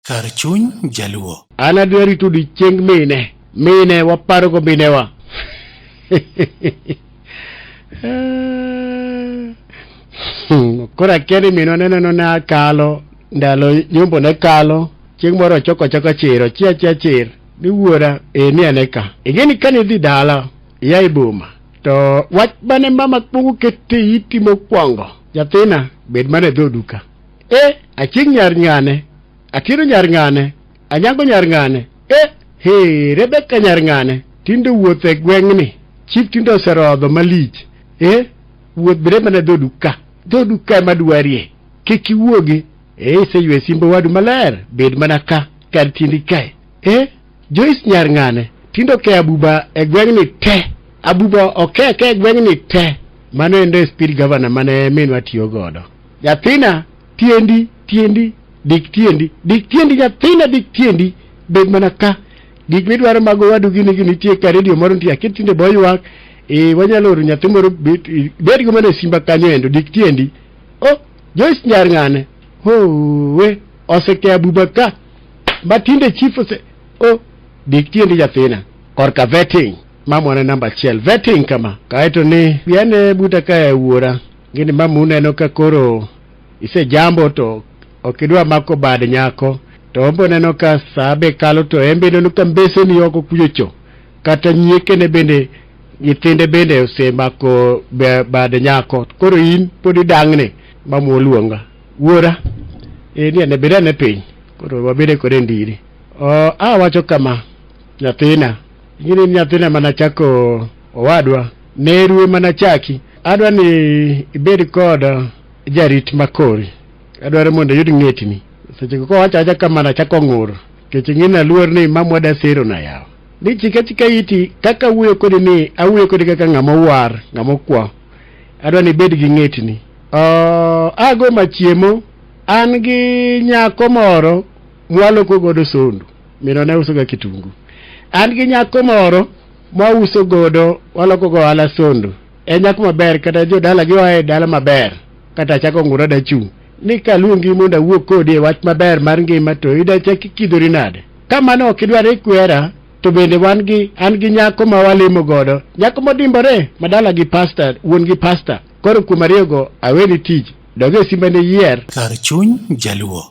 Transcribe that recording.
kar chuny jaluo. An adwa rito odiechieng mine, mine waparogo minewa. Koro akia ni minwa ne neno na kalo ndalo nyombo ne kalo chieng' moro ochoko choko chiro chia chia chir ni wuora e ni ane ka ing'e ni kane idhi dala iya e boma to wach mane mama kwongo kete iti mokwongo nyathina bed mana e dhoduka eh achieng nyar ng'ane akiro nyar ng'ane anyango nyar ng'ane eh he rebeka nyar ng'ane tinde wuoth e gweng'ni chif tinde oserodho malich eh wuoth bere mana dhodu ka dhodu ka ema dwarie kik iwuogi eh iseywe simbo wadu maler bed mana ka kar tindi kae eh Joyce Nyarng'ane tinde oke abuba e gweng'ni te. Abuba oke ake e gweng'ni te. Mano endo e speed governor mane minwa tiyo godo. Nyathina tiendi tiendi dik tiendi dik tiendi nyathina dik tiendi bed mana ka gik midwaro mago wadu gini gini nitie ka redio moro nitie akit tinde bo ywak e wanyalo oro nyathi moro bet i- bed go mana e simba kanyo endo dik tiendi o Joyce Nyarng'ane howe oseke abuba ka ma tinde chief ose o dik tiendi nyathina korka vetting mamwana namba achiel vetting kama kaeto ni biane buta kae wuora gini mamu neno ka koro isejambo to ok idwa mako bad nyako to ombo neno ka saa be kalo to en be neno ka mbeseni oko kuchocho kata nyiekene bende nyithinde bende osemako be- bad nyako koro in pod idang'ni mamu oluonga Wuora, eh, ni ane bed ane piny, koro wabede kode e ndiri. Oh, a wacho kama, nyathina, ing'eni ni nyathina mana chako owadwa, nerue mana chaki. Adwa ni ibed kod jarit makori. Adwaro mondo iyud ng'etni. Seche go kowacho acha kama na chako ng'ur. Kech ing'eni aluor ni mamwa da sero na yawa. Ni chika chika iti kaka awuoyo kodi ni awuoyo kodi kaka ng'ama owar, ng'ama okwa. adwa ni ibed gi ng'etni. Oh, ago machiemo an gi nyako moro mwaloko godo sondu mino ne usoga kitungu an gi nyako moro mwauso godo waloko go ohala sondu en nyako maber kata jodala gi oa e dala maber kata achako ngura dachung' ni kaluongi mondo awuo kodi e wach maber mar ngima to idachaki kidhori nade ka mano ok idwar ikwera to bende wan gi an gi nyako ma walimo godo nyako modimbore madala gi pasta wuon gi pasta koro kuom ariyogo aweni tich doge simba ne yier kar chuny jaluo